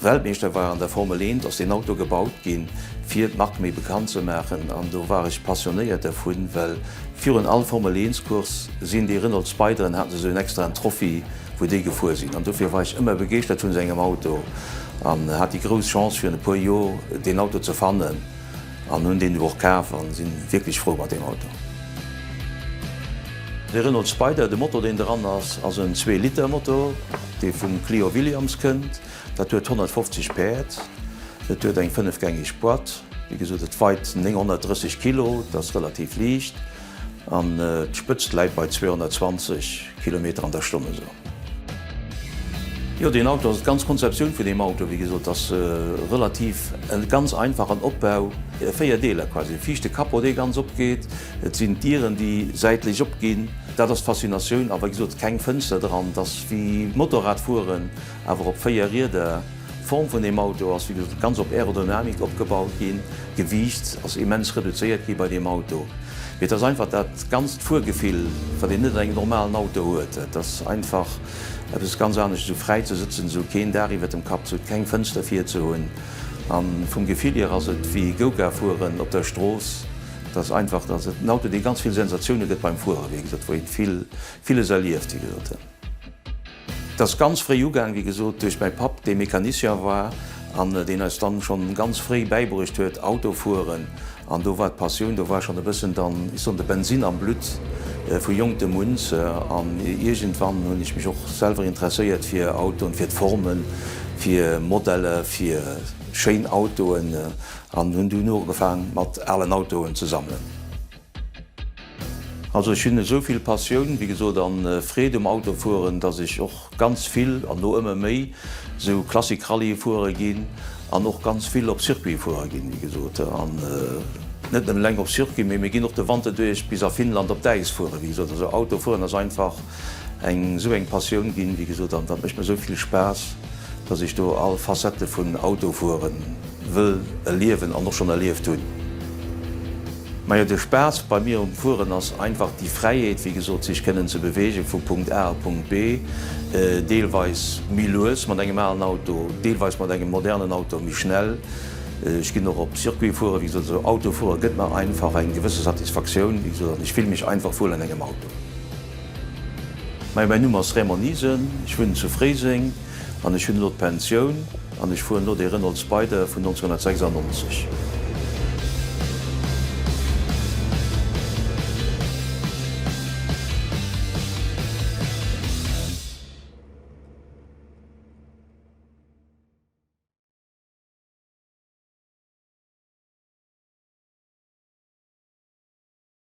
Weltmeeschter war an der Formel Eent, ass deen Auto gebaut ginn, fir d'Mark méi bekannt ze maachen. An do war ech passionéiert dervun, well virun all Formel-Eens-Course sinn déi Renault Spyderen, haten se esou en extraen Trophy, wou déi gefuer sinn. An dofir war ech ëmmer begeeschtert vun esou engem Auto an hat déi grouss Chance, fir en e puer Jor deen Auto ze fannen. An hun deen du och kaaf an sin wierklech frou mat deem Auto. De Renault Spider, de Motor deen dran ass, ass en zwee Liter Motor dee vum Clio Williams kënnt. Dat huet 150 Päerd, et huet eng 5 gängeg Boîte, wéi gesot et weit 930 Kilo, dat ass relativ liicht. An d'Spëtzt läit bei 220 Kilometer an der Stonn esou. Jo deen Auto ass, d'ganz Konzeptioun vun deem Auto, wéi gesot, ass relativ e ganz einfachen Opbau, 4 Deeler quasi, e viischte Capot dee ganz opgeet, et sinn d'Dieren déi säitlech opginn, dat ass d'Faszinatioun, a wei gesot keng Fënster dran, t'ass wéi Motorrad fueren. Awer op 4 Rieder. D'Form vun deem Auto ass wéi gesot ganz op Aerodynamik opgebaut ginn. D'Gewiicht ass immens reduzéiert gi bei deem Auto. Mee et ass einfach dat ganzt Fuergefill, wat een net an engem normalen Auto huet. Et ass einfach eppes ganz anescht, esou fräi ze sëtzen, esou keen Daach iwwert dem Kapp ze hunn, keng Fënster vir ze hunn. A vum Gefill hier ass et wéi Go-Kart fueren op der Strooss. Et ass einfach, et ass en Auto, dee ganz vill Sensatioune gëtt beim Fuere, wéi gesot, wou ee vill, villes erlieft, wéi gesot. Et ass ganz fréi ugaang, wéi gesot, duerch mäi Papp, dee Mecanicien war an deen eis dann schonn ganz fréi bäibruecht huet, Auto fueren. An do war d'Passioun, do war schonn e bëssen dann, ech soen, de Bensin am Blutt vu jonktem un. An iergendwann hunn ech mech och selwer interesséiert fir Autoen, fir d'Formen, fir Modelle, fir schéin Autoen an hunn dunn ugefaang mat alen Autoen ze sammelen. Also ech hunn esou vill Passioun, wéi gesot, a Freed um Autofueren, dass ech och ganz vill, an lo ëmmer méi, esou Classic-Rallye fuere ginn an och ganz vill op Circuit fuere ginn, wéi gesot. An net nëmmen eleng op Circuit, mee mir ginn och de Wanter duerch bis a Finnland op d'Äis fueren, wéi gesot. Also Autofueren ass einfach eng esou eng Passioun ginn, wéi gesot, an dat mécht mir esou vill Spaass, dass ech do all Facette vun Autofuere wëll erliewen an och schonn erlieft hunn. Majo de Spaass bei mir um Fueren ass einfach déi Fräiheet, wéi gesot, sech kënnen ze beweegen vu Punkt A a Punkt B, deelweis méi lues mat engem alen Auto, deelweis mat engem modernen Auto méi schnell. Ech ginn och op Circuit fueren, wéi gesot, also Auto fuere gëtt mer einfach eng gewësse Satisfaktioun, wéi gesot, an ech fille mech einfach wuel an engem Auto. Majo mäin Numm ass Raymond Niesen, ech wunnen zu Fréiseng an ech hunn elo d'Pensioun. An ech fueren lo dee Renault Spider vun 1996.